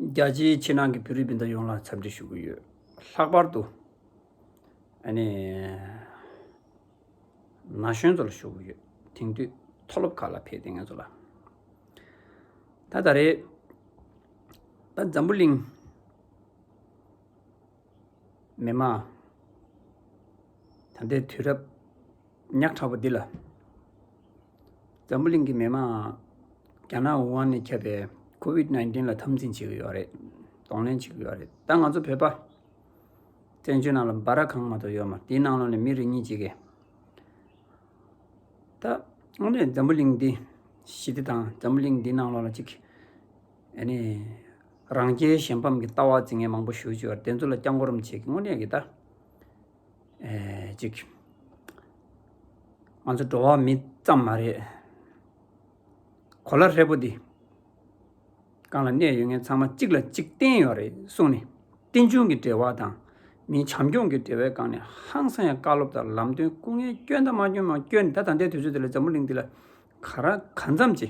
རྒྱ་ཆེའི་ཕྱི་ནང་གི་བོད་རིགས་སྤུན་ཟླ་ཡོངས་ལ་འཚམས་འདྲི་ཞུ་གི་ཡོད། ལྷག་པར་དུ། ན་གཞོན་ཚོ་ལ་ཞུ་གི་ཡོད། དེང་དུས་མཐོ་སློབ་ཁག་ལ་ཕེབས་ཏེ་ངེད་ཚོ་ལ། ད་ད་རེས། ད་འཛམ་བུ་གླིང། མི་དམངས། ད་ལྟའི་དུས་རབས། ཉག་ཕྲ་བོ་འདི་ལ། འཛམ་བུ་གླིང་གི་མི་དམངས་རྒྱ་ནག་ཝུ་ཧན་ནས་ཁྱབ་པའི་ཁོ་ཝིད་བརྣན་ཏིན་ལ་འཐབ་འཛིང་བྱེད་ཀྱི་ཡོད་རེད། གདོང་ལེན་བྱེད་ཀྱི་ཡོད་རེད་ད་ང་ཚོ་བོད་པ། བཙན་བྱོལ་ནང་ལ་འབའ་ར་གང་མ་གཏོགས་ཡོད་མ་དེའི་ནང་ལོགས་ནས་མི་རེ་གཉིས་གཅིག་གིས། ད་དངོས་གནས་འཛམ་བུ་གླིང་འདི་ཞི་བདེ་དང་འཛམ་བུ་གླིང་འདིའི་ནང་ལོགས་ལ་ཅིག། ཨ་ནི། རང་རྒྱལ་གཞན་ཕམ་གྱི་ལྟ་བ་འཛིན་མཁན་མང་པོ་བཞུགས་ཀྱི་ཡོད་རེད་དེ་ཚོ་ལ་བསྐྱར་མགོ་རུམ་བྱེད་ཀྱི་དངོས་གནས་ཀྱི་ད། ཅིག། ང་ཚོ་འགྲོ་བ་མི་ཙམ་མ་རེད། གོ་ལ་ཧྲིལ་པོ་འདི་གང་ལ་གནས་ཡོད་མཁན་ཚང་མ་གཅིག་ལ་གཅིག་བརྟེན་ཡོད་རེད་གསུངས་ནས་རྟེན་འབྱུང་གི་འབྲེལ་བ་དང། མིའི་བྱམས་སྐྱོང་གི་འབྲེལ་བའི་སྒང་ནས་ཧང་སང་ཡང་བཀའ་སློབ་དང་ལམ་སྟོན་སྐུ་ངལ་བསྐྱོན་དང་མ་བསྐྱོན་མང་བསྐྱོན་ད་ད་ལྟའི་དུས་ཚོད་འདི་ལ་འཛམ་བུ་གླིང་འདི་ལ་ག་རང་གང་འཚམ་ཅི།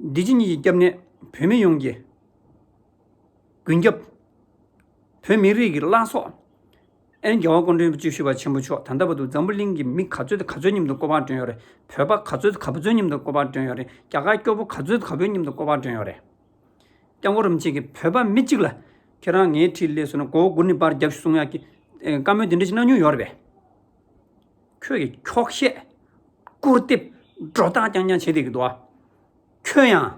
བདེ་སྐྱིད་གཉིས་ཀྱི་སྐྱབས་གནས་བོད་མི་ཡོངས་ཀྱི་མགོན་སྐྱབས། བོད་མི་རིགས་ཀྱི་བླ་སྲོག། ཨན་རྒྱལ་བ་དཀོན་མཁྲིས་བཅུ་བཞི་པ་ཆེན་པོ་མཆོག་ད་ལྟ་བར་དུ་འཛམ་བུ་གླིང་གི་མི་ག་ཚོད་ག་ཚོད་མཉམ་དུ་ཀོ་ཕག་བསྐྲུན་ཡོད་རེད་བོད་པ་ག་ཚོད་ག་ཚོད་མཉམ་དུ་ཀོ་ཕག་བསྐྲུན་ཡོད་རེད་རྒྱ་གར་སྐྱོ་པོ་ག་ཚོད་ག་ཚོད་མཉམ་དུ་ཀོ་ཕག་བསྐྲུན་ཡོད་རེད་སྐྱབས་མགོ་རུམ་བྱེད་ཀྱི་བོད་པ་མི་གཅིག་ལ་ཁྱེད་རང་ངའི་འཁྲིས་ལས་སུ་ན་མགོ་བོ་སྒུར་ནས་པར་རྒྱབ་ཞུ་གསུང་ཡག་གི་བཀའ་མོལ་འདི་འདྲ་ཅིག་གནང་མྱོང་ཡོད་རེད་པས། ཁྱོད་ཀྱི་འཁྱོག་བཤད། སྐུར་བལྟེབ། སྒྲོག་གཏམ་རྐྱང་རྐྱང་བྱེད་དེ་གི་འདུག་ཨ། ཁྱོད་ཡང།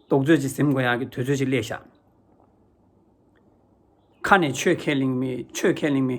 རྡོག་བརྫོད་ཅིག་གཟིམ་དགོས་ཡག་གི་དུས་ཚོད་ཅིག་སླེབས་ཤག། ཁ་ནས་ཆོས་ཁས་ལེན་མི་ཆོས་ཁས་ལེན་མི།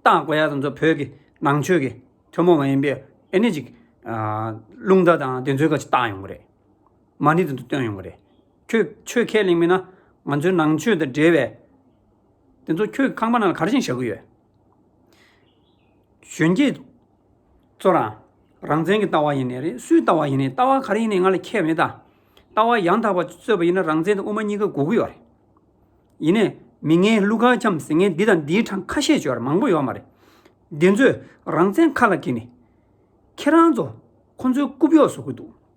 བཏགས་དགོས་ཡག་ཟེར་ཚོ་བོད་ཀྱི་ནང་ཆོས་ཀྱི་ཐུན་མོང་མ་ཡིན་པའི་ཨེ་ནི་ཅིག། རླུང་རྟ་དང་དེ་ཚོའི་ཁ་ཅིག་བཏགས་ཡོང་གི་རེད། མ་ནི་དེ་ཚོ་བཏོན་ཡོང་གི་རེད། ཁྱོད་ཆོས་ཁས་ལེན་མིན་ན། ང་ཚོའི་ནང་ཆོས་དང་འབྲེལ་བའི། དེ་ཚོ་ཁྱོད་ཁང་པ་ནང་ལ་ག་རེ་བཞིན་བཞག་གི་ཡོད། གཞོན་སྐྱེས་ཚོ་རང་རང་བཙན་གྱི་ལྟ་བ་ཡིན་ནི་རེད་སུའི་ལྟ་བ་ཡིན་ནི་ལྟ་བ་ག་རེ་ཡིན་ནི་ང་ལ་ཁྱད་མེད་ད། ལྟ་བ་ཡང་དག་པ་རྩོད་པ་ཡིན་ན་རང་བཙན་དང་དབུ་མ་གཉིས་ཀ་འགོག་གི་ཡོད་རེད། ཡིན་ནས་མི་ངན་ཀླུ་དགའ་ཁྱམས་ཟེར་མཁན་འདི་དང་འདིའི་གྲངས་ཁ་ཤས་བརྗོད་ཡ་མང་པོ་ཡོད་མ་རེད། འདི་ཚོས་རང་བཙན་ཁ་ལ་འཁྱེར་ནི། ཁྱེད་རང་ཚོ་ཁོང་ཚོའི་རྐུབ་གཡོག་བཟོ་གི་འདུག།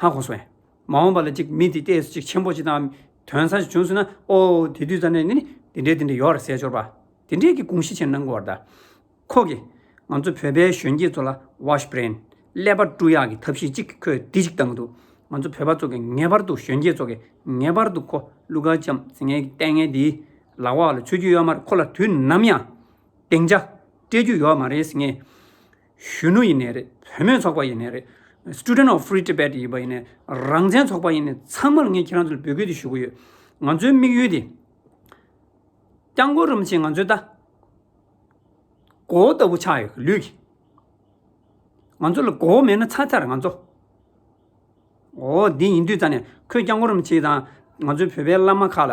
ཧ་གོ་སོང། མ་འོངས་པ་ལ་ཅིག་མི་འདི་ལྟས་སུ་ཅིག་ཆེན་པོ་ཅིག་དང། དོན་ཚར་ཅིག་བྱུང་སོང་ན་ཨོ། དེ་དུས་ཙར་ནས་ནི་འདི་འདྲའི་འདི་འདྲའི་ཡོར་ཟས་འཆོར་བ། དེ་འདྲས་ཀྱི་དགུང་ཤི་ཆེན་གནང་དགོས་བར་གདའ། ཁོ་གིས། ང་ཚོ་བོད་པའི་གཞོན་སྐྱེས་ཚོ་ལ Wash Brain། ཀླད་པ་བཀྲུ་ཡག་གི་ཐབས་ཤེས་ཅིག་ཁོས་འདི་ཅིག་བཏང་འདུག་ང་ཚོ་བོད་པ་ཚོ་གིས་ངེས་པར་དུ་གཞོན་སྐྱེས་ཚོ་གིས་ངེས་པར་དུ་ཁོ་ཀླུ་དཀར་ལྕམ་ཟིང་ངེ་གི་ལྟས་ངན་འདིའི་ལག་འོག་ལ་འཚོལ་རྒྱུ་ཡོད་མ་རེད་ཁོ་ལ་དུས་ནམ་ཡང་སྡིངས་ཆ་སྤྲད་རྒྱུ་ཡོད་མ་རེད་ཟིང་ངེ། གཞོན་ནུ་ཡིན་ནས་རེད་བུ་མོའི་ཚོགས་པ་ཡིན་ནས་རེད Student of Free Tibet ཡིན་པ་ཡིན་ནས་རང་བཙན་ཚོགས་པ་ཡིན་ནས་ཚང་མར་ངས་ཁྱེད་རང་ཚོ་ལ་འབོད་སྐུལ་དེ་ཞུ་གི་ཡོད། ང་ཚོའི་དམིགས་ཡུལ་དེ། སྐྱག་མགོ་རུམ་ཆེན་ང་ཚོའི་ལྟ་གོ་བོ་ལྟ་བུ་ཆགས་ཡོད་ལུས་ཀྱི། ང་ཚོ་ལ་མགོ་བོ་མེད་ན་ཚར་ཚར་ང་ཚོ། འོ་འདི་ཡིན་དུས་རྩ་ནས་ཁོས་སྐྱག་མགོ་རུམ་ཆེན་དང་ང་ཚོའི་བོད་པའི་བླ་མ་ཁག་ལ།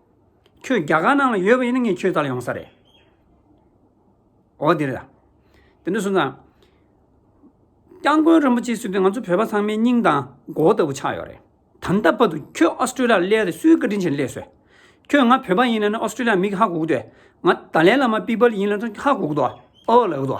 ཁྱོད་རྒྱ་གར་ནང་ལ་ཡོད་པ་ཡིན་ན་ངས་ཁྱོད་ལྟར་ཡོང་ས་རེད། འོ་དེ་རེད། དེ་ནས་བཟུང་ཙང། སྐྱབས་མགོན་རིན་པོ་ཆེ་གསོལ་དུས་ང་ཚོ་བོད་པ་ཚང་མའི་སྙིང་དང་མགོ་བོ་ལྟ་བུ་ཆགས་ཡོད་རེད། ད་ལྟ་བར་དུ་ཁྱོད་ཨོ་སི་ཀྲི་ལི་ཡར་བསླེས་ཏེ་སུའི་བཀའ་དྲིན་ཆེན་བསླེས་སོས། ཁྱོད་ང་བོད་པ་ཡིན་ན་ནི་ཨོ་སི་ཀྲི་ལི་ཡར་མིག་ཧ་གོག་དུས། ང་ཏཱ་ལའི་བླ་མ་པི་པ་ལི་ཡིན་ལ་ཧ་གོག་དོ། ཨོ་ལགས་དོ།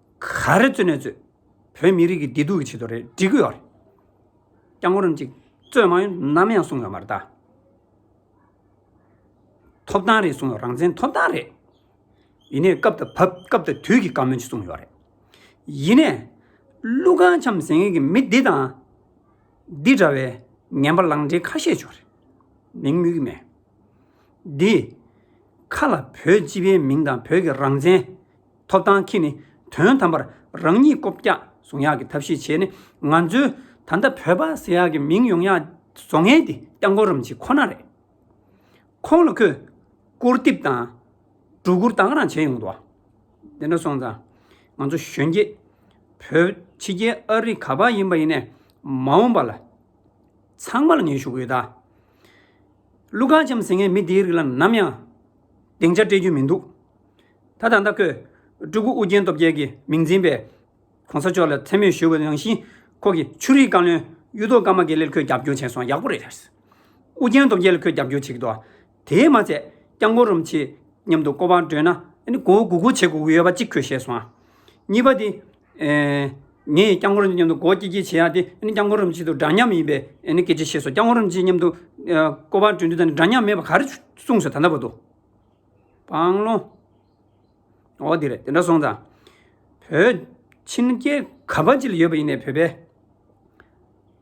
ག་རེ་རྩོད་ནས་རྩོད། བོད་མི་རིགས་ཀྱི་བདེ་སྡུག་གི་ཆེད་དུ་རེད་འབྲི་གི་ཡོད་རེད། སྐྱག་ངོ་རུམ་ཅིག་རྩོད་མང་ཡོད་ནམ་ཡང་གསུང་ཡོད་མ་རེད་ད། ཐོབ་ཐང་རེད་གསུང་ཡོད་རང་བཙན་ཐོབ་ཐང་རེད། ཡིན་ནས་སྐབས་དང་བབ་སྐབས་དང་དུས་ཀྱི་བཀའ་མོལ་ཅིག་གསུང་ཡོད་རེད། ཡིན་ནས། ཀླུ་གངས་འཆམ་ཟེར་མཁན་གྱི་མི་འདི་དང། འདི་འདྲ་བའི་ངན་པ་ལང་འདྲེ་ཁ་ཤས་བྱུང་རེད། མིང་སྨོས་ཀྱི་མེད། འདིས། ཁ་ལ་བོད་སྤྱི་པའི་མིང་དང་བོད་ཀྱི་རང་བཙན། ཐོབ་ཐང་གིས་ནི་དོན་དམ་པར་རང་ཉིད་སྐོབ་རྒྱག་བཟུང་ཡག་གི་ཐབས་ཤེས་བྱས་ནས་ང་ཚོའི་ད་ལྟ་བོད་པ་ཟེར་ཡག་གི་མིང་ཡོང་ཡག་བཟོ་མཁན་དེ་སྐྱབས་མགོན་རིན་ཆེན་ཁོ་ན་རེད། ཁོང་ལ་ཁོས་སྐུར་འདེབས་དང་སྒྲོ་སྐུར་དང་ག་རང་བྱས་ཡོང་འདུག་བ། དེ་འདྲ་སོང་ཙང་ང་ཚོ་གཞོན་སྐྱེས་བོད་ཕྱི་རྒྱལ་ཨ་རི་ག་པ་ཡིན་པ་ཡིན་ནས་མ་འོངས་པ་ལ་ཚང་མ་ལ་ངས་ཞུ་གི་ཡོད། ཀླུ་མཁར་བྱམས་ཟེར་མཁན་མི་དེའི་རིགས་ལ་ནམ་ཡང་སྡིངས་ཆ་སྤྲད་རྒྱུ་མི་འདུག། ད་ལྟ་ཁོས་སྤྲུལ་སྐུ་ཨུ་རྒྱན་སྟོབས་རྒྱལ་གྱི་མིང་འཛིན་པའི ྋགོང་ས་མཆོག་ལ་མཚན་སྨོད་ཞུ་བ་ནང་བཞིན་ཁོ་གི་ཆུ་རིའི་བཀའ་བློན་གཡུ་ཐོག་ཀརྨ་དགེ་ལེར་ཁོས་རྒྱབ་སྐྱོར་བྱས་སོང་ཡག་པོ་རེད། ཨུ་རྒྱན་སྟོབས་རྒྱལ་ལ་ཁོས་རྒྱབ་སྐྱོར་བྱེད་ཀྱི་འདུག་དེས་མ་ཚད་སྐྱབས་མགོན་རིན་པོ་ཆེ་མཉམ་དུ་སྐོར་བ་བགྲོད་ན་ནི་མགོ་བོ་སྒུར་སྒུར་བྱེད་དགོས་ཀྱི་ཡོད་པ་གཅིག་ཁོས་བཤད་སོང། གཉིས་པ་དེ། ངས་སྐྱབས་མགོན་རིན་པོ་ཆེ་མཉམ་དུ་སྒོ་སྐྱེལ་སྐྱེལ་བྱེད་ཡག་དེ་སྐྱབས་མགོན་རིན་པོ་ཆེ་དང་འདྲ་མཉམ་ཡིན་པའི་སྐད་ཆ་བཤད་སོང་སྐྱབས་མགོན་རིན་པོ་ཆེ་མཉམ་དུ་སྐོར་བ་བགྲོད་འདི་དང་འདྲ་མཉམ་མེད་པ་ག་རེ་གསུངས་སོང་ད་ལྟ་བར་དུ། སྤང་ལོང། ཨོ་དེ་རེད་དེ་འདྲ་སོང་ཙང། བོད་ཕྱིན་སྐྱེ་ག་པ་ཅི་ལ་ཡོད་པ་ཡིན་ནས་བོད་པས།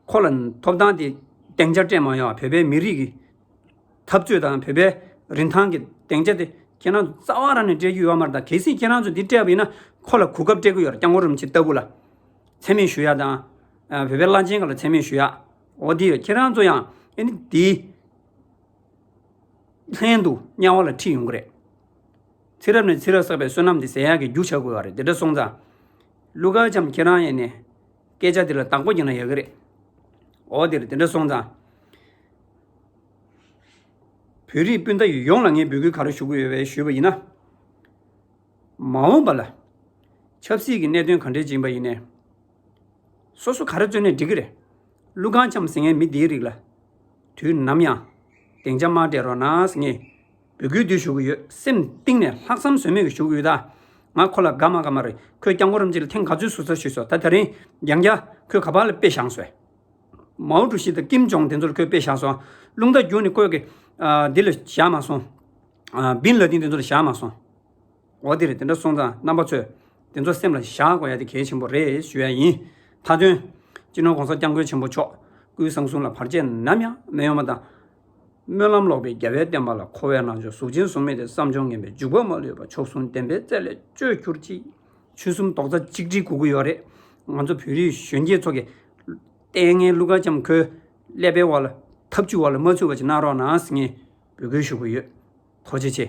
ཁོ་ལ་ཐོབ་ཐང་དེ་སྟེང་ཆ་སྤྲད་མ་ཡོང་བ་བོད་པའི་མི་རིགས་ཀྱི། འཐབ་རྩོད་དང་བོད་པའི་རིན་ཐང་གི་སྟེང་ཆ་དེ་ཁྱེད་རང་ཚོ་རྩ་བ་རང་ནས་སྤྲད་རྒྱུ་ཡོད་མ་རེད་ད་གལ་སྲིད་ཁྱེད་རང་ཚོ་འདི་སྤྲད་པ་ཡིན་ན་ཁོ་ལ་གོ་སྐབས་སྤྲད་ཀྱི་ཡོད་རེད་སྐྱག་མགོ་རུམ་ཆེ་ལྟ་བུ་ལ། འཚེ་མེད་ཞུ་ཡག་དང། བོད་པའི་བླ་ཆེན་ག་ལ་འཚེ་མེད་ཞུ་ཡག། ཨོ་དེ་རེད་ཁྱེད་རང་ཚོ་ཡང་ཨེ་ནི་དེའི། ལྷན་དུ་དམྱལ་བ་ལ་ཁྲིད་ཡོང་གི་རེད། ཚེ་རབས་ནས་ཚེ་རབས་བསགས་པའི་བསོད་ནམས་དེ་ཟེར་ཡག་གི་རྒྱུ་བྱ་དགོས་བ་རེད་དེ་འདྲ་སོང་ཙང། ཀླུ་མཁར་བྱམས་ཁྱེད་རང་ཡེ་ནས་སྐད་ཆ་དེ་ལ་བདག་པོ་བགྱིས་ན་ཡག་གི་རེད། འོ་དེར་དེ་འདྲ་སོང་ཙང། བོད་རིགས་སྤུན་ཟླ་ཡོངས་ལ་ངས་འབོད་སྐུལ་ག་རེ་ཞུ་གི་ཡོད་བས་ཞུས་པ་ཡིན་ན། མ་འོངས་པ་ལ། ཆབ་སྲིད་ཀྱི་གནད་དོན་ག་འདྲའི་ཅིག་ཡིན་པ་ཡིན་ནས། སོ་སོ་ག་རེ་བརྩོན་ནས་འགྲིག་གི་རེད། ཀླུ་གང་འཁྱམས་ཟིན་ངས་མི་འདིའི་རིགས་ལ། དུས་ནམ་ཡང་སྡིངས་ཆ་མ་སྤྲད་རོགས་གནང་ངས། འབོད་སྐུལ་འདི་ཞུ་གི་ཡོད་སེམས་གཏིང་ནས་ལྷག་བསམ་ཟོལ་མེད་ཀྱི་ཞུ་གི་ཡོད་ད། ང་ཁོ་ལ་དགའ་མ་དགའ་མ་རེད་ཁོས་སྐྱག་མགོ་རམ་ཅི་ལ་ཐེངས་ག་ཚོད་ཟུར་ཟ་ཞུས་སོ་ད་ད་རིང་རྒྱང་རྒྱ་ཁོས་ག་པར་ལ་དཔེ་བཞག་སོས། མའོ་ཀྲུའུ་ཞི་དང་ཀིམ་ཇོང་དེ་ཚོར་ཁོས་དཔེ་བཞག་སོང། རླུང་རྟ་རྒྱུག་ནི་བཀོད་ཀྱི། འདི་ལ་བཞག་མ་སོང། བིན་ལ་ཏིན་དེ་ཚོ་ལ་བཞག་མ་སོང། འོ་དེ་རེད་དེ་འདྲ་སོང་ཙང་རྣམ་པ་ཚོས་དེ་ཚོ་སེམས་ལ་བཞག་དགོས་ཡ་དེ་གལ་ཆེན་པོ་རེད་ཞུ་ཡ་ཡིན། མཐའ་དོན། སྤྱི་ནོར ྋགོང་ས ྋསྐྱབས་མགོན་ཆེན་པོ་མཆོག་སྐུའི་གསང་གསུམ་ལ་བར་ཆད་ནམ་ཡང་མི་ཡོང་བ་དང། སྨོན་ལམ་ལོག་པའི་རྒྱལ་བའི་བསྟན་པ་ལ་མཁོ་བའི་ནང་ཆོས་གཟུགས་ཅན་གཟུགས་མེད་དེ་བསམ་སྦྱོར་ངན་པའི་འཇུག་པ་མ་ལུས་པ་མཆོག་ཟུང་ལྡན་པའི་རྩལ་ལས་བཅོས་གྱུར་ཅིག། ཆོལ་གསུམ་རྡོག་རྩ་གཅིག་སྒྲིལ་དགོས་ཀྱི་ཡོད་རེད། ང་ཚོ་བོད་རིགས་གཞོན་སྐྱེས་ཚོ་གི། ལྟས་ངན་ཀླུ་དགའ་ལྕམ་ཁོའི་ཀླད་པའི་བར་ལ་ཐབས་ཇུས་བར་ལ་མ་ཚུད་པ་ཅིག་གནང་རོགས་གནང་ངས་འབོད་སྐུལ་ཞུ་གི་ཡོད། ཐོག་ཆེ་ཆེ།